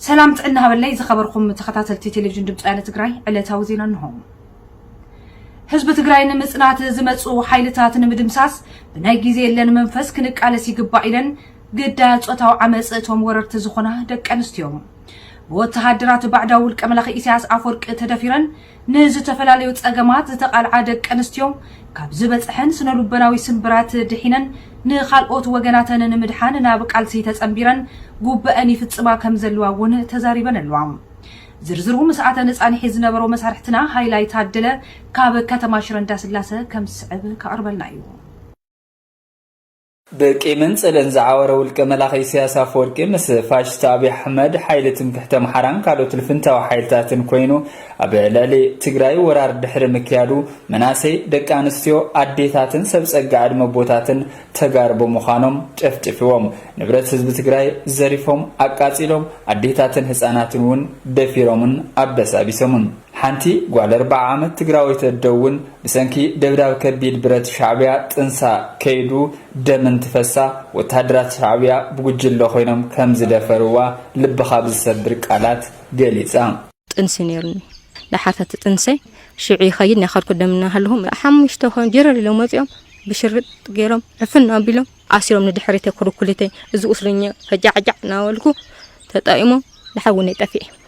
ሰላም ጥዕና ሃበለይ ዝኸበርኩም ተኸታተልቲ ቴሌቪዥን ድምፂ ወያነ ትግራይ ዕለታዊ ዜና እንሆ። ህዝቢ ትግራይ ንምፅናት ዝመፁ ሓይልታት ንምድምሳስ ብናይ ግዜ የለን መንፈስ ክንቃለስ ይግባእ ኢለን ግዳያ ፆታዊ ዓመፅ እቶም ወረርቲ ዝኾና ደቂ ኣንስትዮ ብወተሃደራት ባዕዳዊ ውልቀ መላኺ ኢሳያስ ኣፈወርቂ ተደፊረን ንዝተፈላለዩ ፀገማት ዝተቓልዓ ደቂ ኣንስትዮ ካብ ዝበፀሐን ስነልቦናዊ ስምብራት ድሒነን ንኻልኦት ወገናተን ንምድሓን ናብ ቃልሲ ተፀምቢረን ጉቡኤን ይፍፅማ ከምዘለዋ እውን ተዛሪበን ኣለዋ። ዝርዝሩ ምስኣተን ፃንሒት ዝነበሮ መሳርሕትና ሃይላይ ታደለ ካብ ከተማ ሽረ እንዳስላሰ ከምዝስዕብ ከቕርበልና እዩ። ብቂምን ጽልእን ዝዓወረ ውልቀ መላኺ ኢሰያስ ኣፈወርቂ ምስ ፋሽስት ኣብይ ኣሕመድ፣ ሓይሊ ትምክሕቲ ኣምሓራን ካልኦት ልፍንታዊ ሓይልታትን ኮይኑ ኣብ ልዕሊ ትግራይ ወራር ድሕሪ ምክያዱ መናእሰይ፣ ደቂ ኣንስትዮ፣ ኣዴታትን ሰብ ጸጋ ዕድመ ኣቦታትን ተጋሩ ብምዃኖም ጨፍጪፍዎም ንብረት ህዝቢ ትግራይ ዘሪፎም ኣቃጺሎም ኣዴታትን ህጻናትን እውን ደፊሮምን ኣበሳቢሶምን። ሓንቲ ጓል ኣርብዓ ዓመት ትግራወይቲ ኣደ እውን ብሰንኪ ደብዳብ ከቢድ ብረት ሻዕቢያ ጥንሳ ከይዱ ደም እንትፈሳ ወተሃደራት ሻዕቢያ ብጉጅለ ኮይኖም ከም ዝደፈርዋ ልብኻ ብዝሰብር ቃላት ገሊጻ። ጥንሲ ነይሩኒ ለሓፈቲ ጥንሰይ ሽዑ ይኸይድ ናኸድኩ ደም እናሃለኹ ሓሙሽተ ኮይኖም ጀረር ኢሎም ወጺኦም ብሽርጥ ገይሮም ዕፍን ኣቢሎም ኣሲሮም ንድሕሪተይ ኩርኩሊተይ እዚ ቁስለኛ ፈጃዕጃዕ እናበልኩ ተጣኢሞም ደሓር ውነይ ጠፊኤ።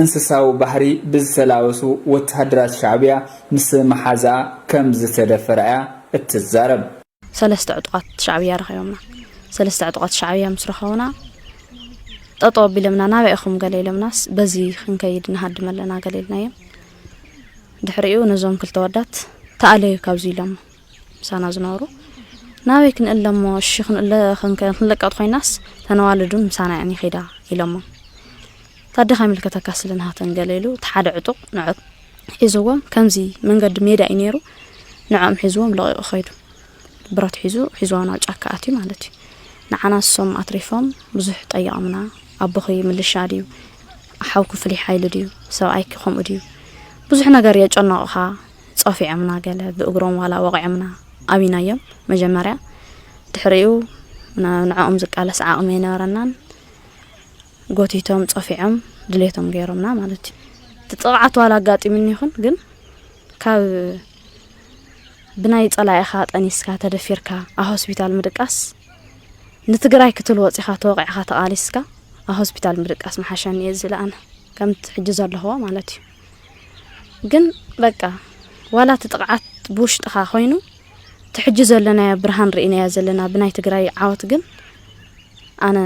እንስሳዊ ባህሪ ብዝተላበሱ ወተሃደራት ሻዕብያ ምስ መሓዝኣ ከም ዝተደፈራ'ያ እትዛረብ። ሰለስተ ዕጡቓት ሻዕብያ ረኺቦምና። ሰለስተ ዕጡቓት ሻዕብያ ምስ ረኸቡና ጠጠው ኣቢሎምና። ናበይ ኢኹም ገለ ኢሎምናስ በዚ ክንከይድ ንሃድም ኣለና ገለ ኢልናዮም። ድሕሪኡ ነዞም ክልተ ወዳት ተኣለዩ ካብዚ ኢሎሞ። ምሳና ዝነበሩ ናበይ ክንእለ እሞ እሺ ክንእለ ክንለቀጥ ኮይናስ ተነዋልዱን ምሳና እየን ይኸዳ ኢሎሞ ታደኻ ይምልከተካ ስለ ንሃተን ገለ ኢሉ እቲ ሓደ ዕጡቕ ንዖ ሒዝዎም ከምዚ መንገዲ ሜዳ እዩ ነይሩ ንዕኦም ሒዝዎም ለቂቑ ኸይዱ ብረት ሒዙ ሒዝዋ ናብ ጫካ ኣትዩ ማለት እዩ ንዓና እሶም ኣትሪፎም ብዙሕ ጠይቖምና ኣቦኺ ምልሻ ድዩ ሓውኪ ፍሉይ ሓይሊ ድዩ ሰብኣይኪ ከምኡ ድዩ ብዙሕ ነገር የጨነቑኻ ጸፊዖምና ገለ ብእግሮም ዋላ ወቒዖምና ኣብይናዮም መጀመርያ ድሕሪኡ ንዕኦም ዝቃለስ ዓቕሚ ኣይነበረናን ጎቲቶም ጸፊዖም ድሌቶም ገይሮምና ማለት እዩ እቲ ጥቕዓት ዋላ ኣጋጢሙኒ ይኹን ግን ካብ ብናይ ጸላኢኻ ጠኒስካ ተደፊርካ ኣብ ሆስፒታል ምድቃስ ንትግራይ ክትል ወፂኻ ተወቂዕኻ ተቓሊስካ ኣብ ሆስፒታል ምድቃስ መሓሸኒ እየ ዝለኣነ ከምቲ ሕጂ ዘለኹዎ ማለት እዩ ግን በቃ ዋላ እቲ ጥቕዓት ብውሽጥኻ ኮይኑ እቲ ሕጂ ዘለናዮ ብርሃን ርኢናዮ ዘለና ብናይ ትግራይ ዓወት ግን ኣነ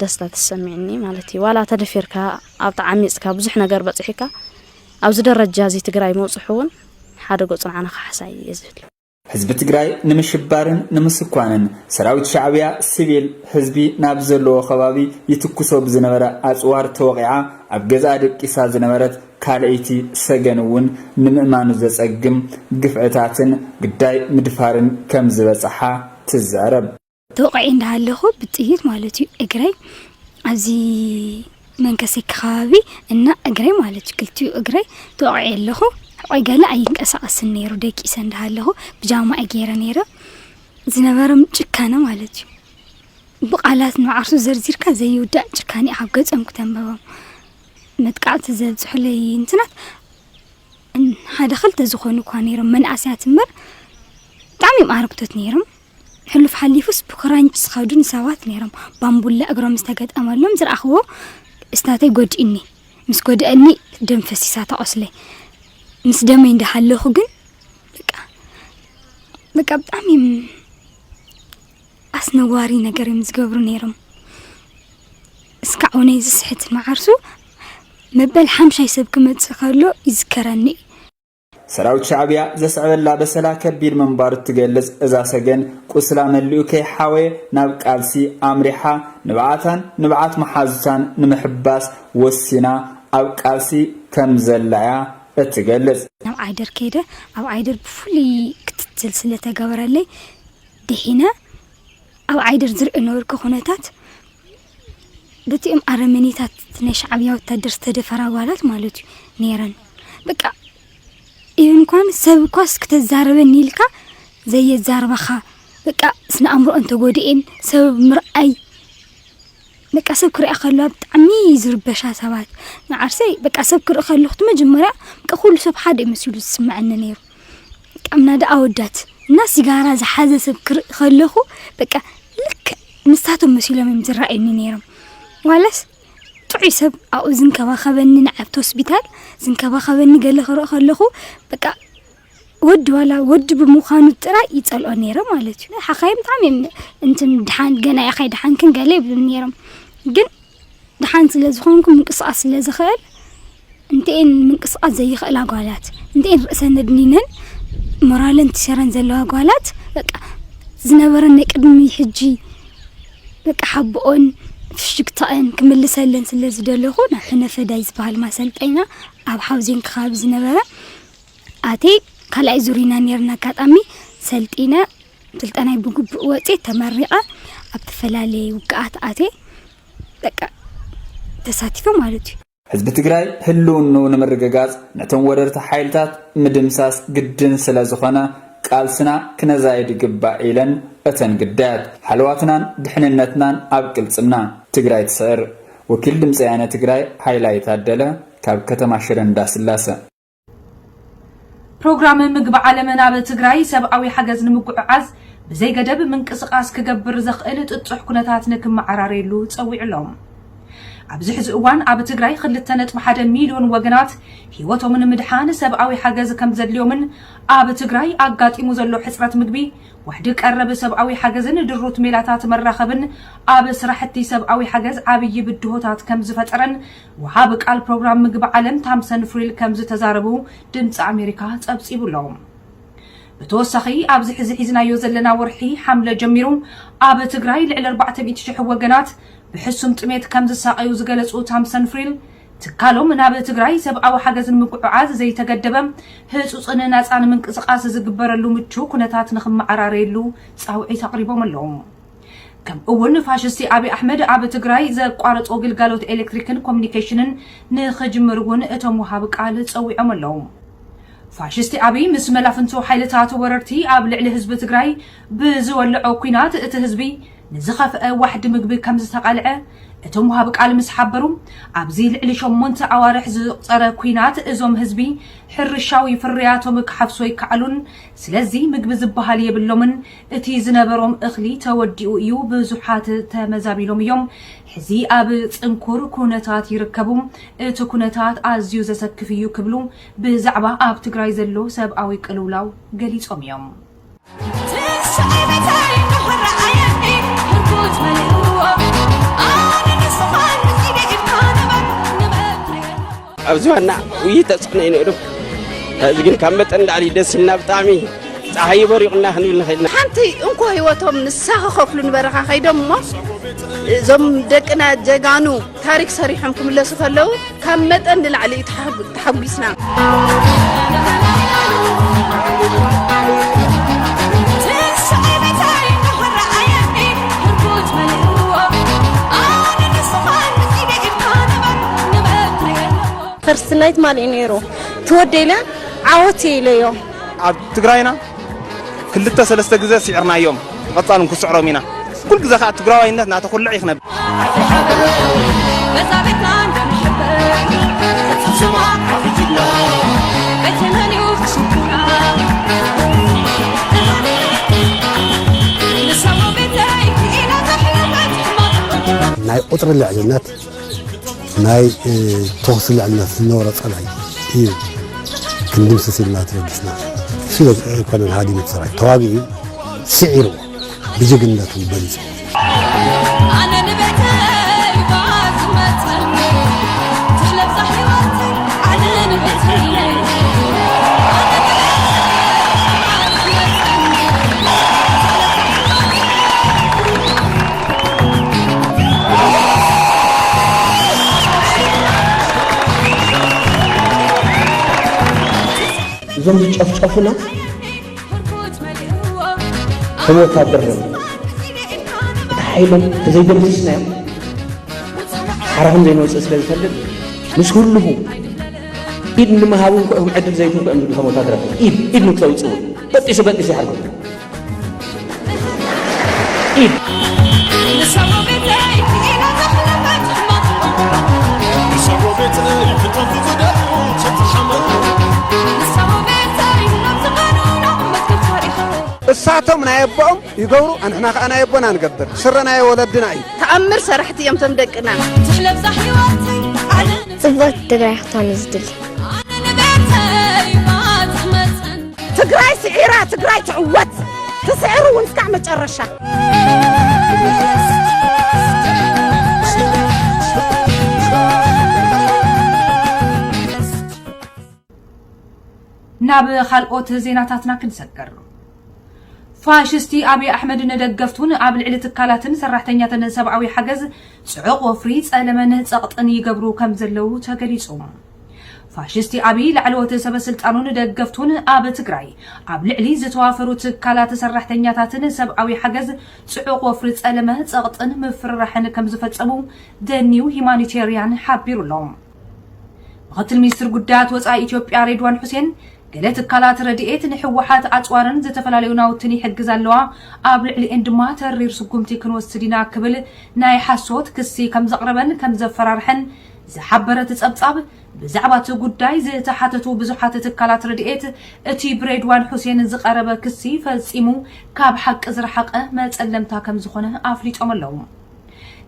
ደስታ ተሰሚዕኒ ማለት እዩ ዋላ ተደፊርካ ኣብ ተዓሚፅካ ብዙሕ ነገር በፂሒካ ኣብዚ ደረጃ እዚ ትግራይ ምውፅሑ እውን ሓደ ጎፅንዓና ክሓሳይ እየ ዝብል ህዝቢ ትግራይ ንምሽባርን ንምስኳንን ሰራዊት ሻዕብያ ስቪል ህዝቢ ናብ ዘለዎ ከባቢ ይትኩሶ ብዝነበረ ኣፅዋር ተወቒዓ ኣብ ገዝኣ ደቂሳ ዝነበረት ካልኣይቲ ሰገን እውን ንምእማኑ ዘፀግም ግፍዕታትን ግዳይ ምድፋርን ከምዝበፀሓ ትዛረብ። ተወቒዐ እንዳሃለኹ ብጥይት ማለት እዩ እግረይ ኣብዚ መንከሰይ ከባቢ እና እግረይ ማለት እዩ ክልቲኡ እግረይ ተወቒዐ ኣለኹ ቆይ ገለ ኣይንቀሳቐስን ነይሩ ደቂሰ እንዳሃለኹ ብጃማ እየ ገይረ ነይረ ዝነበሮም ጭካነ ማለት እዩ ብቃላት ንዓርሱ ዘርዚርካ ዘይውዳእ ጭካኔ ካብ ገጾም ክተንበቦም መጥቃዕቲ ዘብፅሑለይ እንትናት ሓደ ክልተ ዝኾኑ እኳ ነይሮም መንእሰያት እምበር ብጣዕሚ እዮም ኣረግቶት ነይሮም ሕሉፍ ሓሊፉስ ብክራንች ዝኸዱ ንሰባት ነይሮም ባምቡላ እግሮም ምስ ተገጠመሎም ዝረኣኽዎ እስታተይ ጎድእኒ ምስ ጎድእኒ ደም ፈሲሳ ተቆስለ ምስ ደመይ እንዳሃለኹ ግን በቃ በቃ ብጣዕሚ ኣስነዋሪ ነገር እዮም ዝገብሩ ነይሮም እስካዕ እውን ዝስሕት መዓርሱ መበል ሓምሻይ ሰብ ክመፅእ ከሎ ይዝከረኒ እዩ ሰራዊት ሻዕብያ ዘስዕበላ በሰላ ከቢድ ምንባሩ እትገልጽ እዛ ሰገን ቁስላ መሊኡ ከይሓወየ ናብ ቃልሲ ኣምሪሓ ንብዓታን ንብዓት መሓዙታን ንምሕባስ ወሲና ኣብ ቃልሲ ከም ዘላ እያ እትገልጽ። ናብ ዓይደር ከይደ፣ ኣብ ዓይደር ብፍሉይ ክትትል ስለ እተገበረለይ ድሒነ። ኣብ ዓይደር ዝርእ ዝነበርኩ ኩነታት በቲኦም ኣረመኔታት እቲ ናይ ሻዕብያ ወታደር ዝተደፈራ ጓላት ማለት እዩ ነይረን በቃ ኢቨን እንኳን ሰብ እኳስ ክተዛረበኒ ኢልካ ዘየዛርባኻ በቃ ስነ ኣእምሮኣን ተጎዲኤን ሰብ ምርኣይ በቃ ሰብ ክሪኣ ከለዋ ብጣዕሚ ዝርበሻ ሰባት ንዓርሰይ በቃ ሰብ ክርኢ ከለኹ መጀመርያ በቃ ኩሉ ሰብ ሓደ እዩ መሲሉ ዝስምዐኒ ነይሩ ቀምና ደኣ ኣወዳት እና ሲጋራ ዝሓዘ ሰብ ክርኢ ከለኹ በቃ ልክዕ ንሳቶም መሲሎም እዮም ዝረኣዩኒ ነይሮም ዋላስ ጥዑይ ሰብ ኣብኡ ዝንከባኸበኒ ንኣብቲ ሆስፒታል ዝንከባኸበኒ ገለ ክርኢ ከለኹ በቃ ወዲ ዋላ ወዲ ብምዃኑ ጥራይ ይጸልኦ ነይረ ማለት እዩ ሓኻይም ብጣዕሚ እዮም እንትን ድሓን ገና ኢኻ ድሓንክን ገለ ይብሉ ነይሮም ግን ደሓን ስለ ዝኾንኩ ምንቅስቓስ ስለ ዝኽእል እንተኤን ምንቅስቓስ ዘይኽእል ኣጓላት እንተኤን ርእሰን ኣድኒነን ሞራለን ትሸረን ዘለዋ ኣጓላት በቃ ዝነበረን ናይ ቅድሚ ሕጂ በቃ ሓቦኦን ፍሽግታእን ክምልሰለን ስለ ዝደለኹ ናብ ሕነፈዳይ ዝበሃል ማሰልጠኛ ኣብ ሓውዜን ክኻብ ዝነበረ ኣቴ ካልኣይ ዙሪና ነርና ኣጋጣሚ ሰልጢነ ስልጠናይ ብግቡእ ወፅየ ተመሪቐ ኣብ ተፈላለየ ውግኣት ኣትየ በቃ ተሳቲፈ ማለት እዩ። ህዝቢ ትግራይ ህልውንኡ ንምርግጋፅ ነቶም ወረርቲ ሓይልታት ምድምሳስ ግድን ስለዝኾነ ቃልስና ክነዛይድ ይግባእ ኢለን እተን ግዳያት። ሃለዋትናን ድሕንነትናን ኣብ ቅልፅምና! ትግራይ ትስዕር! ወኪል ድምፂ ወያነ ትግራይ ሃይላይ ታደለ ካብ ከተማ ሽረ እንዳስላሰ። ፕሮግራም ምግቢ ዓለም ናብ ትግራይ ሰብኣዊ ሓገዝ ንምጉዕዓዝ ብዘይገደብ ምንቅስቓስ ክገብር ዘኽእል ጥጡሕ ኩነታት ንክመዓራረየሉ ጸዊዑ ኣሎ። ኣብዚ ሕዚ እዋን ኣብ ትግራይ ክልተ ነጥቢ ሓደ ሚልዮን ወገናት ህይወቶም ንምድሓን ሰብኣዊ ሓገዝ ከም ዘድልዮምን ኣብ ትግራይ ኣጋጢሙ ዘሎ ሕፅረት ምግቢ፣ ዋሕዲ ቀረብ ሰብኣዊ ሓገዝን ድሩት ሜላታት መራኸብን ኣብ ስራሕቲ ሰብኣዊ ሓገዝ ዓብዪ ብድሆታት ከም ዝፈጠረን ወሃቢ ቃል ፕሮግራም ምግቢ ዓለም ታምሰን ፍሪል ከምዝተዛረቡ ድምጺ ኣሜሪካ ጸብጺቡ ኣሎ። ብተወሳኺ ኣብዚ ሕዚ ሒዝናዮ ዘለና ወርሒ ሓምለ ጀሚሩ ኣብ ትግራይ ልዕሊ ኣርባዕተ ሚእቲ ሽሕ ወገናት ብሕሱም ጥሜት ከምዝሳቐዩ ዝገለጹ ታምሰን ፍሪል ትካሎም ናብ ትግራይ ሰብኣዊ ሓገዝ ንምጉዕዓዝ ዘይተገደበ ህጹጽን ናጻን ምንቅስቓስ ዝግበረሉ ምቹው ኩነታት ንክመዓራረየሉ ጻውዒት ኣቕሪቦም ኣለዉ። ከምኡ እውን ፋሽስቲ ኣብይ ኣሕመድ ኣብ ትግራይ ዘቋረፆ ግልጋሎት ኤሌክትሪክን ኮሚኒኬሽንን ንኽጅምር እውን እቶም ወሃቢ ቃል ፀዊዖም ኣለው። ፋሽስቲ ኣብይ ምስ መላፍንቱ ሓይልታት ወረርቲ ኣብ ልዕሊ ህዝቢ ትግራይ ብዝወለዖ ኲናት እቲ ህዝቢ ንዝኸፍአ ዋሕዲ ምግቢ ከምዝተቓልዐ እቶም ወሃቢ ቃል ምስ ሓበሩ ኣብዚ ልዕሊ ሸሞንተ ኣዋርሕ ዝቑፀረ ኲናት እዞም ህዝቢ ሕርሻዊ ፍርያቶም ክሓፍሱ ኣይከኣሉን ስለዚ ምግቢ ዝበሃል የብሎምን እቲ ዝነበሮም እኽሊ ተወዲኡ እዩ፣ ብዙሓት ተመዛቢሎም እዮም፣ ሕዚ ኣብ ጽንኩር ኩነታት ይርከቡ፣ እቲ ኩነታት ኣዝዩ ዘሰክፍ እዩ ክብሉ ብዛዕባ ኣብ ትግራይ ዘሎ ሰብኣዊ ቅልውላው ገሊጾም እዮም። ኣብዚ ዋና ውይ ተፅዕኖ እዩ ነይሩ እዚ ግን ካብ መጠን ላዕሊ ደስ ኢልና ብጣዕሚ ፀሓይ በሪቑና ክንብል ንኽእል ሓንቲ እንኮ ህይወቶም ንሳ ክኸፍሉ ንበረኻ ከይዶም እሞ እዞም ደቅና ጀጋኑ ታሪክ ሰሪሖም ክምለሱ ከለዉ ካብ መጠን ንላዕሊ እዩ ተሓጒስና ፈርስት ናይ ትማል እዩ ነይሩ ትወደይ ኢለ ዓወት እየ ኢለዮ ኣብ ትግራይና ክልተ ሰለስተ ግዜ ስዒርናዮም ብቐጻሉ ክንስዕሮም ኢና ኩል ግዜ ከዓ ትግራዋይነት እናተኹልዕ እዩ ክነብር ናይ ቁፅሪ ልዕልነት ናይ ተኹሲ ልዕልነት ዝነበሮ ፀላኢ እዩ ክንድምስስ ኢልና ተበጊስና እሱ ዘይኮነን ሃዲሙ ሰራዊት ተዋጊኡ ስዒርዎ ብጅግንነቱ በሊፁ እዞም ዝጨፍጨፉና ከም ወታደር ዶ እቲ ሓይሎም ተዘይደምስስናዮም ሓራ ከም ዘይንወፅእ ስለ ዝፈልጥ ምስ ህልኹ ኢድ ንምሃብ እውን ክዕድል ዘይትንኩ እዮም ዝብሉ ከም ወታደራት ኢድ ኢድ ንክተውፅኡ በጢሱ በጢሱ ይሓርገኩም እሳቶም ናይ ኣቦኦም ይገብሩ ኣንሕና ከዓ ናይ ኣቦና ንገብር ስረ ናይ ወለድና እዩ ተኣምር ሰራሕቲ እዮም ቶም ደቅና ጽብቕቲ ትግራይ ክትኮን ዝድሊ ትግራይ ስዒራ ትግራይ ትዕወት ትስዕር እውን እስካዕ መጨረሻ ናብ ካልኦት ዜናታትና ክንሰገር ፋሽስቲ ኣብይ ኣሕመድ ንደገፍቱን ኣብ ልዕሊ ትካላትን ሰራሕተኛትን ሰብኣዊ ሓገዝ ጽዑቕ ወፍሪ ጸለመን ጸቕጥን ይገብሩ ከም ዘለዉ ተገሊጹ ፋሽስቲ ኣብይ ላዕለዎት ሰበስልጣኑን ደገፍቱን ኣብ ትግራይ ኣብ ልዕሊ ዝተዋፈሩ ትካላት ሰራሕተኛታትን ሰብኣዊ ሓገዝ ፅዑቕ ወፍሪ ፀለመ፣ ፀቕጥን ምፍርራሕን ከምዝፈፀሙ The New Humanitarian ሓቢሩ ኣሎ። ምኽትል ሚኒስትር ጉዳያት ወፃኢ ኢትዮጵያ ሬድዋን ሑሴን ገለ ትካላት ረድኤት ንህወሓት ኣፅዋርን ዝተፈላለዩ ናውትን ይሕግዛ ኣለዋ፣ ኣብ ልዕሊኤን ድማ ተሪር ስጉምቲ ክንወስድ ኢና ክብል ናይ ሓሶት ክሲ ከምዘቕረበን ከምዘፈራርሐን ዝሓበረ እቲ ጸብጻብ፣ ብዛዕባ እቲ ጉዳይ ዝተሓተቱ ብዙሓት ትካላት ረድኤት፣ እቲ ብሬድዋን ሑሴን ዝቐረበ ክሲ ፈጺሙ ካብ ሓቂ ዝረሓቐ መጸለምታ ከም ዝኾነ ኣፍሊጦም ኣለዉ።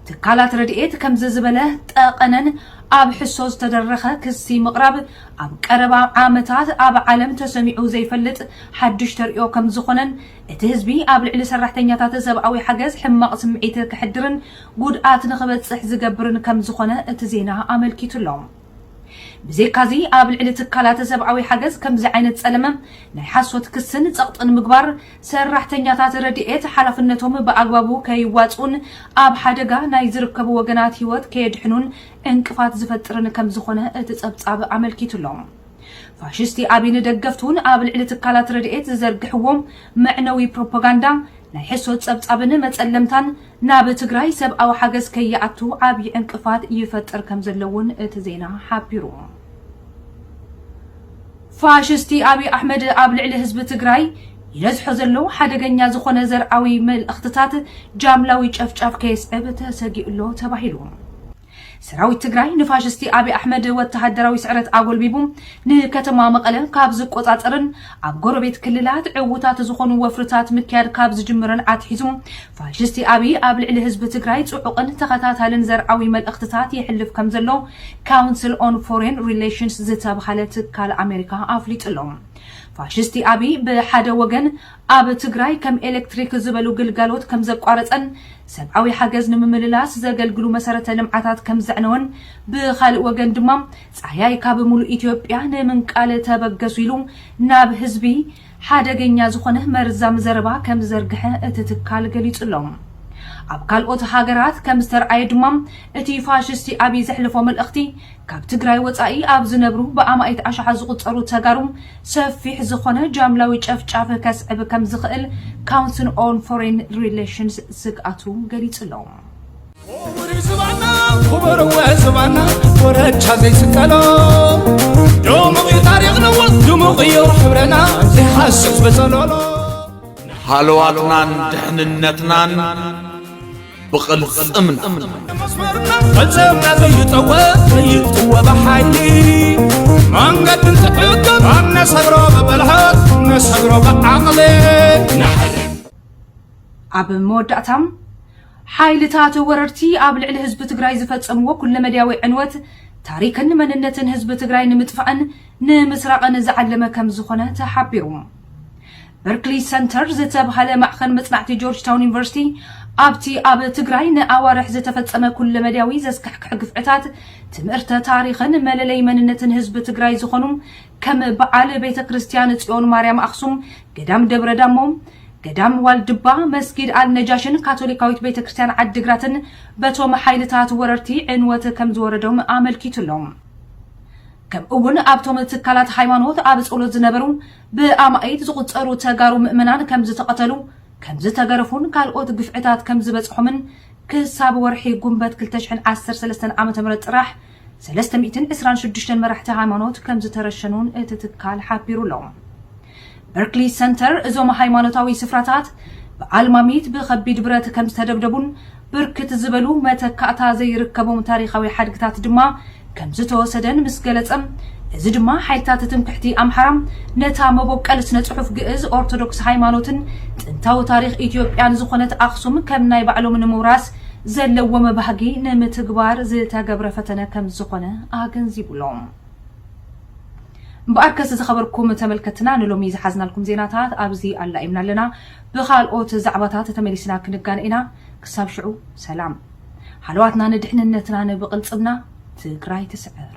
ትካላት ረድኤት ከምዚ ዝበለ ጠቐነን ኣብ ሕሶ ዝተደረኸ ክሲ ምቕራብ ኣብ ቀረባ ዓመታት ኣብ ዓለም ተሰሚዑ ዘይፈልጥ ሓድሽ ተርእዮ ከም ዝኾነን እቲ ህዝቢ ኣብ ልዕሊ ሰራሕተኛታት ሰብኣዊ ሓገዝ ሕማቕ ስምዒት ከሕድርን ጉድኣት ንኽበፅሕ ዝገብርን ከምዝኾነ እቲ ዜና ኣመልኪቱ ኣሎ። ብዘይካ'ዚ ኣብ ልዕሊ ትካላት ሰብኣዊ ሓገዝ ከምዚ ዓይነት ፀለመ ናይ ሓሶት ክስን ፀቕጥን ምግባር ሰራሕተኛታት ረድኤት ሓላፍነቶም ብኣግባቡ ከይዋፅኡን ኣብ ሓደጋ ናይ ዝርከቡ ወገናት ህይወት ከየድሕኑን ዕንቅፋት ዝፈጥርን ከምዝኾነ እቲ ፀብፃብ ኣመልኪቱ ኣሎ። ፋሽስቲ ኣብይ ንደገፍቱን ኣብ ልዕሊ ትካላት ረድኤት ዝዘርግሕዎ መዕነዊ ፕሮፓጋንዳ ናይ ሕሶት ጸብጻብን መጸለምታን ናብ ትግራይ ሰብኣዊ ሓገዝ ከይኣቱ ዓብዪ ዕንቅፋት ይፈጥር ከምዘሎ እውን እቲ ዜና ሓቢሩ። ፋሽስቲ ኣብይ ኣሕመድ ኣብ ልዕሊ ህዝቢ ትግራይ ይነዝሖ ዘሎ ሓደገኛ ዝኾነ ዘርኣዊ መልእኽትታት ጃምላዊ ጨፍጫፍ ከየስዕብ ተሰጊኡ'ሎ ተባሂሉ። ሰራዊት ትግራይ ንፋሽስቲ ኣብይ ኣሕመድ ወተሃደራዊ ስዕረት ኣጎልቢቡ ንከተማ መቐለ ካብ ዝቆፃፀርን ኣብ ጎረቤት ክልላት ዕውታት ዝኾኑ ወፍርታት ምክያድ ካብ ዝጅምርን ኣትሒዙ ፋሽስቲ ኣብይ ኣብ ልዕሊ ህዝቢ ትግራይ ፅዑቕን ተኸታታልን ዘርኣዊ መልእኽትታት የሕልፍ ከም ዘሎ ካውንስል ኦን ፎሬን ሪሌሽንስ ዝተብሃለ ትካል ኣሜሪካ ኣፍሊጡ ኣሎ። ፋሽስቲ ኣብይ ብሓደ ወገን ኣብ ትግራይ ከም ኤሌክትሪክ ዝበሉ ግልጋሎት ከም ዘቋረፀን ሰብዓዊ ሓገዝ ንምምልላስ ዘገልግሉ መሰረተ ልምዓታት ከም ዘዕነወን ብኻልእ ወገን ድማ ፃህያይ ካብ ሙሉእ ኢትዮጵያ ንምንቃል ተበገሱ ኢሉ ናብ ህዝቢ ሓደገኛ ዝኾነ መርዛም ዘረባ ከም ዝዘርግሐ እቲ ትካል ገሊፁ ኣሎ። ኣብ ካልኦት ሃገራት ከም ዝተርኣየ ድማ እቲ ፋሽስቲ ኣብይ ዘሕለፎ መልእኽቲ ካብ ትግራይ ወፃኢ ኣብ ዝነብሩ ብኣማኢት ኣሽሓት ዝቑፀሩ ተጋሩ ሰፊሕ ዝኾነ ጃምላዊ ጨፍጫፍ ከስዕብ ከምዝኽእል ካውንስል ኦን ፎሬን ሪሌሽንስ ስግኣቱ ገሊፁ'ሎ። ኦምሪ ዝባና ኩበርወ ዝባና ወረቻ ዘይስቀሎ ዶሙቂ ታሪክ ነዎ ድሙቅዮ ሕብረና ዘይሓስብ በጸሎሎ ሃለዋትናን ድሕንነትናን ብቕልፅምና ፈፀምና ዘይጠወ ዘይጥወ ብሓይሊ መንገዲ እንትዕገብ ኣነሰግሮ ብብልሃት ነሰግሮ ብዓቕሊ ኣብ መወዳእታ ሓይልታት ወረርቲ ኣብ ልዕሊ ህዝቢ ትግራይ ዝፈፀምዎ ኩለመድያዊ ዕንወት ታሪክን መንነትን ህዝቢ ትግራይ ንምጥፋእን ንምስራቕን ዝዓለመ ከም ዝኾነ ተሓቢሩ። በርክሊ ሰንተር ዝተብሃለ ማዕኸን መፅናዕቲ ጆርጅታውን ዩኒቨርሲቲ ኣብቲ ኣብ ትግራይ ንኣዋርሕ ዝተፈፀመ ኩለመዳያዊ ዘስካሕክሕ ግፍዕታት ትምህርተ ታሪኽን መለለይ መንነትን ህዝቢ ትግራይ ዝኾኑ ከም በዓል ቤተ ክርስቲያን ፅዮን ማርያም ኣኽሱም፣ ገዳም ደብረ ዳሞ፣ ገዳም ዋልድባ፣ መስጊድ ኣልነጃሽን ካቶሊካዊት ቤተ ክርስቲያን ዓዲግራትን በቶም ሓይልታት ወረርቲ ዕንወት ከምዝወረዶም ኣመልኪቱ ኣሎ። ከምኡ'ውን ኣብቶም ትካላት ሃይማኖት ኣብ ፀሎት ዝነበሩ ብኣማኢት ዝቑጸሩ ተጋሩ ምእመናን ከምዝተቐተሉ፣ ከምዝተገረፉን ካልኦት ግፍዕታት ከምዝበጽሖምን ክሳብ ወርሒ ጉንበት ክልተ ሽሕን ዓሰርተ ሰለስተን ዓመተ ምህረት ጥራሕ ሰለስተ ሚእትን ዕስራን ሽዱሽተን መራሕቲ ሃይማኖት ከምዝተረሸኑን እቲ ትካል ሓቢሩ ኣሎ። በርክሊ ሰንተር እዞም ሃይማኖታዊ ስፍራታት ብኣልማሚት ብኸቢድ ብረት ከምዝተደብደቡን ብርክት ዝበሉ መተካእታ ዘይርከቦም ታሪኻዊ ሓድግታት ድማ ከምዝተወሰደን ምስ ገለጸ፣ እዚ ድማ ሓይልታት ትምክሕቲ ኣምሓራ ነታ መቦቀል ስነ-ጽሑፍ ግእዝ፣ ኦርቶዶክስ ሃይማኖትን ጥንታዊ ታሪኽ ኢትዮጵያን ዝኾነት ኣኽሱም ከም ናይ ባዕሎም ንምውራስ ዘለዎም ባህጊ ንምትግባር ዝተገብረ ፈተነ ከምዝኾነ ኣገንዚቡ'ሎ። እምበኣርከስ ዝኸበርኩም ተመልከትትና ንሎሚ ዝሓዝናልኩም ዜናታት ኣብዚ ኣላኢምና ኣለና። ብኻልኦት ዛዕባታት ተመሊስና ክንጋነ ኢና ክሳብ ሽዑ ሰላም። ሃለዋትና ንድሕንነትናን ብቅልፅምና ትግራይ ትስዕር።